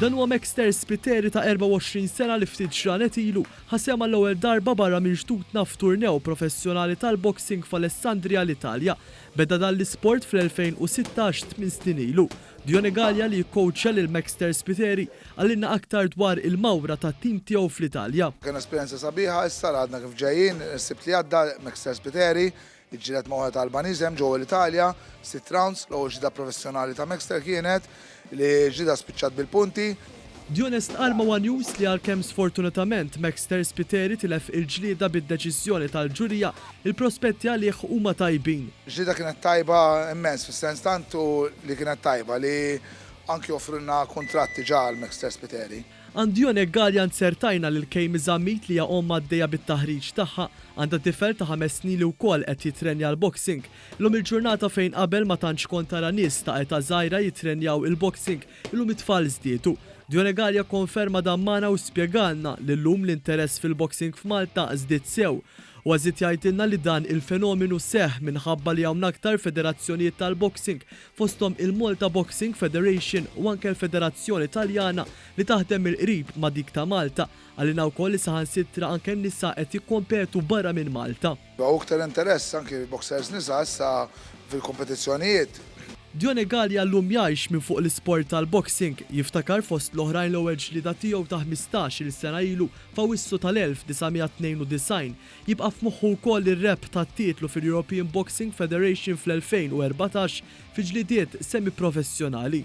Dan huwa Mexter Spiteri ta' 24 sena li ftit ġranet ilu ħasem għall-ewwel darba barra minn ġdudna f'turnew professjonali tal-boxing f'Alessandria l-Italja. Beda dan l-isport fl-2016 tmien snin ilu. Dione Galea li jikkowċja lil Maxter Spiteri qalilna aktar dwar il-mawra tat-tim tiegħu fl-Italja. Kien esperjenza sabiħa, issa għadna kif ġejjin, is-Sibt li għadda Maxter Spiteri ġġieled ma' wieħed Albaniż hemm ġewwa l-Italja, sitt rounds, l-ewwel ġlieda professjonali ta' Maxter kienet, li ġlieda spiċċat bil-punti. Dione stqarr ma' one News li għalkemm sfortunatament Maxter Spiteri tilef il-ġlieda bid-deċiżjoni tal-ġurija, il-prospetti għalih huma tajbin. Ġlieda kienet tajba immens fis-sens tant hu li kienet tajba li anki offrulna kuntratt diġà għal Maxter Spiteri. Għand Dione Galea nzertajna lil Kaymi Zammit li hija omm għaddejja bit-taħriġ tagħha. Għandha tifel ta' ħames snin li wkoll qed jittrenja l-boxing. Illum il-ġurnata fejn qabel ma tantx kont tara nies ta' età żgħira jittrenjaw il-boxing, Illum it-tfal żdiedu. Djonegal jokkonferma dan magħna u spjegalna li llum l-interess fil-boxing f'Malta żdied sew. Huwa żied jgħidilna li dan il-fenomenu seħħ minħabba li hawn aktar federazzjonijiet tal-boxing fosthom il-Malta Boxing Federation u anke l-Federazzjoni Taljana li taħdem mill-qrib ma' dik ta' Malta. Qalilna wkoll li saħansitra anke n-nisa qed jikkompetu barra minn Malta. Hawn iktar interess anki boxers nisa issa fil-kompetizzjonijiet. Dione Galea llum jgħix minn fuq l-isport tal-boxing. Jiftakar fost l-oħrajn l-ewwel ġlieda tiegħu ta' ħmistax-il sena ilu f'Awwissu tal-1992. Jibqa' f'moħħu wkoll ir-rebħ tat-titlu fil-European Boxing Federation fl-2014 fi ġlidiet semi-professjonali.